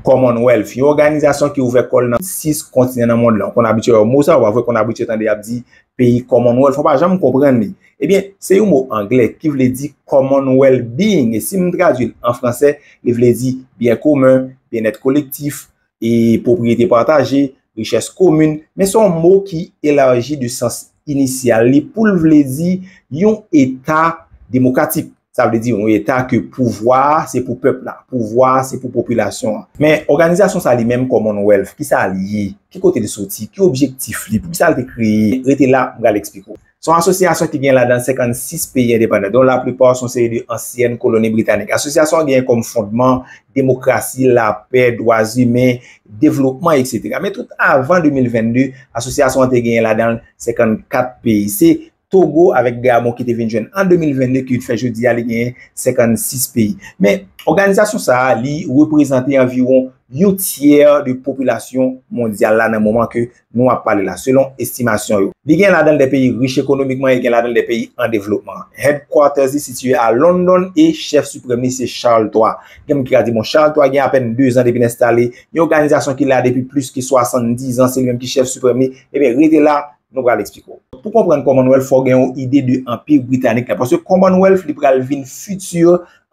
Commonwealth, yon òganizasyon ki ouvè kò l nan 6 kontinan nan mond lan. Ou konn abitye wè mo sa, ou pa vre? Ou konn abitye tande y ap di peyi Commonwealth, ou pa janm konprann li. Ebyen, se yon mo angle ki vle di common well being, e si m tradui l an franse, li vle di byen komen, byennèt kolektif, e pwopriyete pataje, richès komin. Men se yon mo ki elaji de sans inisyal li pou l vle di yon eta demokratik. Sa vle di yon eta ke pouvwa a se pou pèp la, pouvwa a se pou popilasyon an. Men, òganizasyon sa li menm Commonwealth, ki sa l ye? Ki kote l soti? Ki objektif li? Pou ki sa l te kreye? Rete la, m pral eksplike w. Se yon asosyasyon ki gen ladan 56 peyi endepandan, don laplipa se yon seri de ansyèn koloni britanik. Asosyasyon an genyen kòm fondman, demokrasi, lapè, dwazimen, devlopman, eksetera. Men tout avan 2022, asosyasyon an te genyen ladan l 54 peyi. Se Togo avèk 2 amò ki te vin jwenn an 2022 ki fè jodi a li genyen 56 peyi. Men, òganizasyon sa a li reprezante anviwon yon tyè de popilasyon mondyal la nan moman ke nou ap pale la, selon estimasyon yo. Li gen ladan l 2 peyi rich ekonomikman e gen ladan l 2 peyi an devlopman. Headquarters li sitiye a London e chèf siprèm li se Charles ii. Gen moun ki ka di bon Charles ii gen apèn 2 zan depi l enstale yon òganizasyon ki la depi plis ke 70 zan se li menm ki chèf siprèm li, ebyen rete la Nou pral eksplike w. Pou konprann Commonwealth fò w gen yon ide de Anpi Britanik la. Paske Commonwealth li pral vin fiti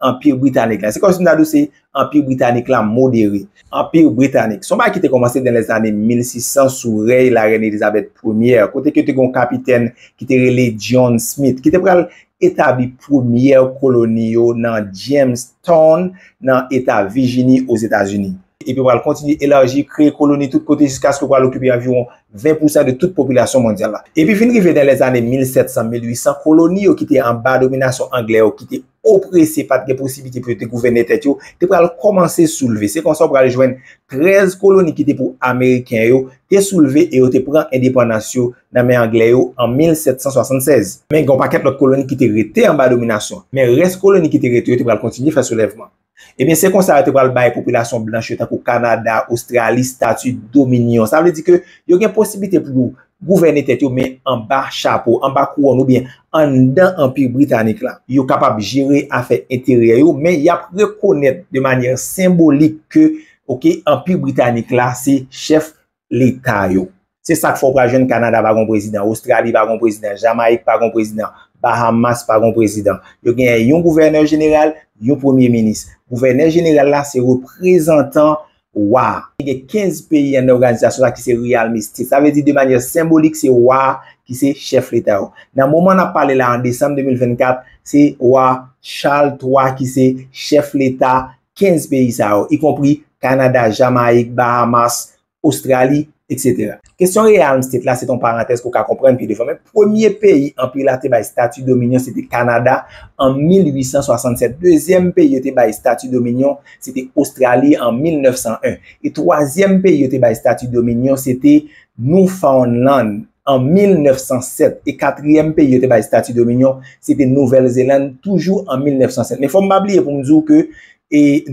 Anpi Britanik la. Se kòm si m ta di w se Anpi Britanik la modere. Anpi Britanik. Se yon bagay ki te kòmanse nan lèzane 1600 sou rèy Larèn Elizabeth Premyè. Kote ke te gen yon kapitèn ki te rele John Smith. Ki te pral etabli premyè koloni yo nan Jamestown nan eta Vijini Ozetazini. Epi yo pral kontinye elaji, kreye koloni tout kote jiskaske yo pral okipe anviwon 20 pousan de tout popilasyon mondyal la. Epi vin rive nan lèzane 1700, 1800, koloni yo ki te anba dominasyon anglè yo, ki te oprese, pa t gen posiblite pou yo te gouvène tèt yo, te pral kòmanse soulve. Se konsa ou pral jwenn 13 koloni ki te pou ameriken yo te soulve e yo te pran endepandans yo nan men anglè yo an 1776. Men gen yon pakèt lòt koloni ki te rete anba dominasyon. Men rès koloni ki te rete yo te pral kontinye fè soulèvman. Ebyen se konsa yo te pral bay popilasyon blanch yo tankou Kanada, Ostrali, stati dominyon. Sa vle di ke yo gen posiblite pou yo gouvène tèt yo men anba chapo, anba kouwòn oubyen anndan anpi britanik la. Yo kapab jere afè enteryè yo men y ap rekonèt de manyè senbolik ke ok anpi britanik la se chèf leta yo. Se sak fè w pral jwenn Kanada pa gon prezidan, Ostrali pa gon prezidan, Jamayik pa gon prezidan, Bahamas pa gon prezidan. Yo genyen yon gouvènè jeneral, yon premye minis. Gouvènè jeneral la se reprezantan wa a. Gen 15 peyi anndan oganizasyon sa ki se realme state. Sa vle di de manyè senbolik se wa a ki se chèf leta yo. Nan moman n ap pale la an desanm 2024, se wa Charles 3 ki se chèf leta 15 peyi sa yo, y konpri Kanada, Jamayik, Bahamas, Ostrali, etc. Kesyon Realm State la se t on parantèz pou w ka konprann pi devan, men premye peyi Anpi la te bay stati dominyon se te Kanada an 1867, dezyèm peyi yo te bay stati dominyon se te Ostrali an 1901, e twazyèm peyi yo te bay stati dominyon se te Noufawnnlann An 1907, e katriyèm peyi yo te bay stati dominyon, se te Nouvèl Zelann, toujou an 1907. Men fò m pa bliye pou m di w ke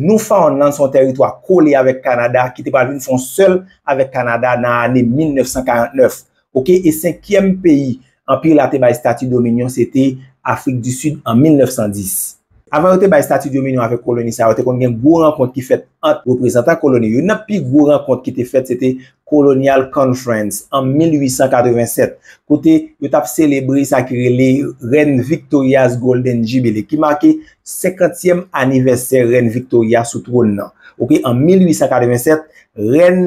Newfoundland se yon tèritwa kole avèk Kanada ki te pral vin fè yon sèl avèk Kanada nan ane 1949. Ok, e senkyèm peyi Anpi la te bay stati dominyon se te Afrik di Sid an 1910. Avan yo te bay stati dominion avèk koloni sa yo, te konn gen gwo rankont ki fèt ant reprezantan koloni. Youn nan pi gwo rankont ki te fèt se te Colonial Conference an 1887, kote yo t ap selebre sa ki rele Rèn Victoria's Golden Jubilee, ki make senkantyèm anivèsè Rèn Victoria sou twòn nan. Ok, an 1887, Rèn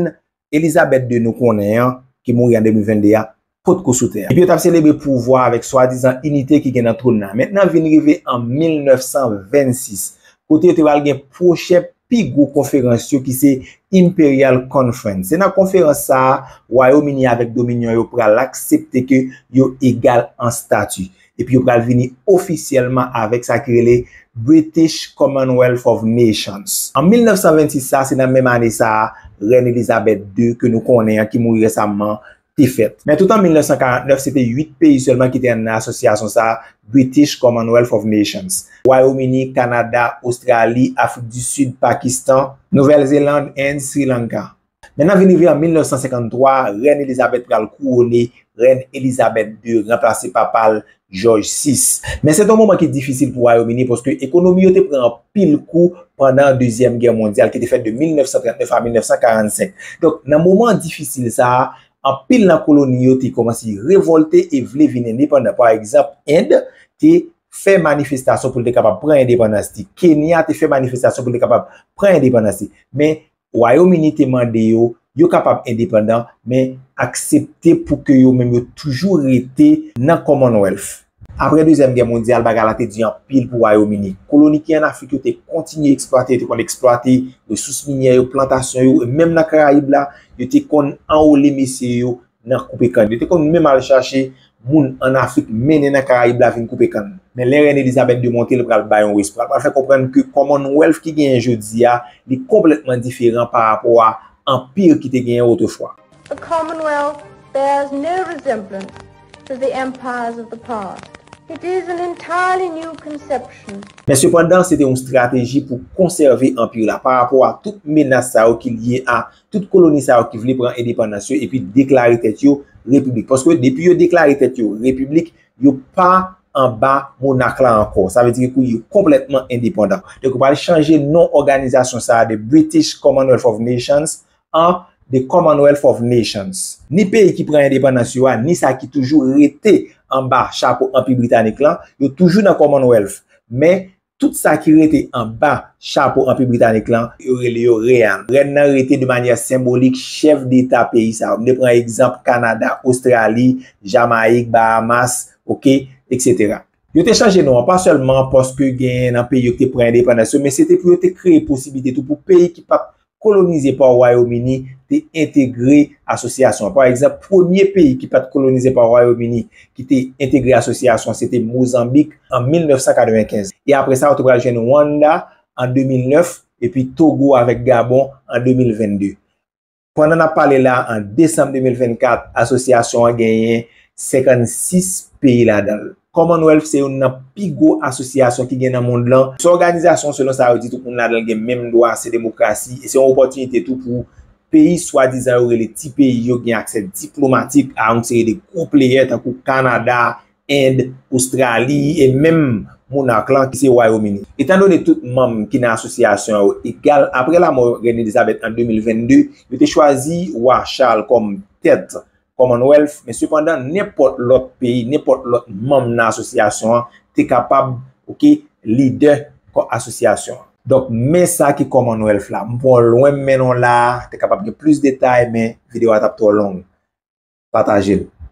Elizabèt ii nou konnen an, ki mouri an 2022 a, potko sou tè a. Epi yo t ap selebre pouvwa avèk swadizan inite ki gen nan twòn nan. Men nan vin rive an 1926, kote yo te pral gen pwochen pi gwo konferans yo ki se Imperial Conference. Se nan konferans sa a, Wayom Ini avèk Dominyon yo pral aksepte ke yo egal an stati. Epi yo pral vini ofisyèlman avèk sa ki rele British Commonwealth of Nations. An 1926 sa, se nan menm ane sa a, Rèn Elizabèt ii, ke nou konnen an, ki mouri resamman, te fèt. Men tout an 1949, se te 8 peyi sèlman ki te nan asosyasyon sa a, British Commonwealth of Nations, Wayom Ini, Kanada, Ostrali, Afrik di Sid, Pakistan, Nouvèl Zeland and Sri Lanka. Men nan vin rive an 1953, Rèn Elizabeth pral kouwone, Rèn Elizabeth ii ranplase papa l, Jòj vi. Men se te yon moman ki difisil pou Wayòm Ini paske ekonomi yo te pran anpil kou pandan Dezyèm Gè Mondyal ki te fèt de 1939 a 1945. Donk, nan moman difisil sa a, anpil nan koloni yo te kòmanse revòlte e vle vin endepandan. Pa egzanp, End te fè manifestasyon pou l te kapab pran endepandans li. Kenya te fè manifestasyon pou l te kapab pran endepandans li. Men, Wayom Ini te mande yo, yo kapab endepandan, men aksepte pou ke yo menm yo toujou rete nan Commonwealth. Apre Dezyèm Gè Mondyal, bagay la te di anpil pou Wayom Ini. Koloni ki an Afrik yo te kontinye eksplwate, yo te konn eksplwate resous minyè yo, plantasyon yo, e menm nan Karayib la, yo te konn anwole mesye yo nan koupe kann. Yo te konn menm al chache moun ann Afrik mennen nan Karayib la vin koupe kann. Men lè Rèn Elizabèt de monte l pral bay yon respè. L pral fè konprann ke Commonwealth ki genyen jodi a, li konplètman diferan pa rapò a Anpir ki te genyen otrefwa. The Commonwealth bears no resemblance to the empires of the past. It is an entirely new conception. Men sepandan, se te yon strateji pou konsève Anpir la pa rapò a tout menas sa yo ki lye a tout koloni sa yo ki vle pran endepandans yo epi deklare tèt yo repiblik. Paske depi yo deklare tèt yo repiblik, yo pa anba monak la ankò. Sa vle di ke kou yo konplètman endepandan. Donk yo pral chanje non òganizasyon sa a de British Commonwealth of Nations an The Commonwealth of Nations. Ni peyi ki pran endepandans yo a, ni sa ki toujou rete anba chapo Anpi Britanik lan, yo toujou nan Commonwealth. Men, Tout sa ki rete anba chapo Anpi Britanik lan, yo rele yo Reann. Rèn nan rete de manyè senbolik chèf deta peyi sa yo. M te pran egzanp Kanada, Ostrali, Jamayik, Bahamas, ok, etc. Yo te chanje non an, pa sèlman paske gen nan peyi yo ki te pran endepandans yo, men se te pou yo te kreye posiblite tou pou peyi ki pa t kolonize pa Wayom Ini te entegre asosyasyon an. Pa egzanp, premye peyi ki pa t kolonize pa Wayom Ini ki te entegre asosyasyon an se te Mozanbik an 1995. E apre sa, ou te pral jwenn Wannda an 2009, epi Togo avèk Gabon an 2022. Pandan n ap pale la a, an desanm 2024, asosyasyon an genyen 56 peyi ladan l. Commonwealth se youn nan pi gwo asosyasyon ki gen nan mond lan. Se yon òganizasyon selon sa yo di tout moun ladan l gen menm dwa, se demokrasi e se yon opòtinite tou pou peyi swadizan yo rele ti peyi yo gen aksè diplomatik a yon seri de gwo pleyè tankou Kanada, End, Ostrali e menm monark lan ki se Wayomini. Etan done tout manm ki nan asosyasyon yo egal, apre lamò Rèn Elizabeth an 2022, yo te chwazi Wa Charles kòm tèt Commonwealth, men sepandan nenpòt lòt peyi, nenpòt lòt manm nan asosyasyon an te kapab, ok, lidè kò asosyasyon an. Donk, men sa ki Commonwealth la. M pran w lwen m mennen w la a, te kapab gen plis detay men videyo a t ap twò long. Pataje l.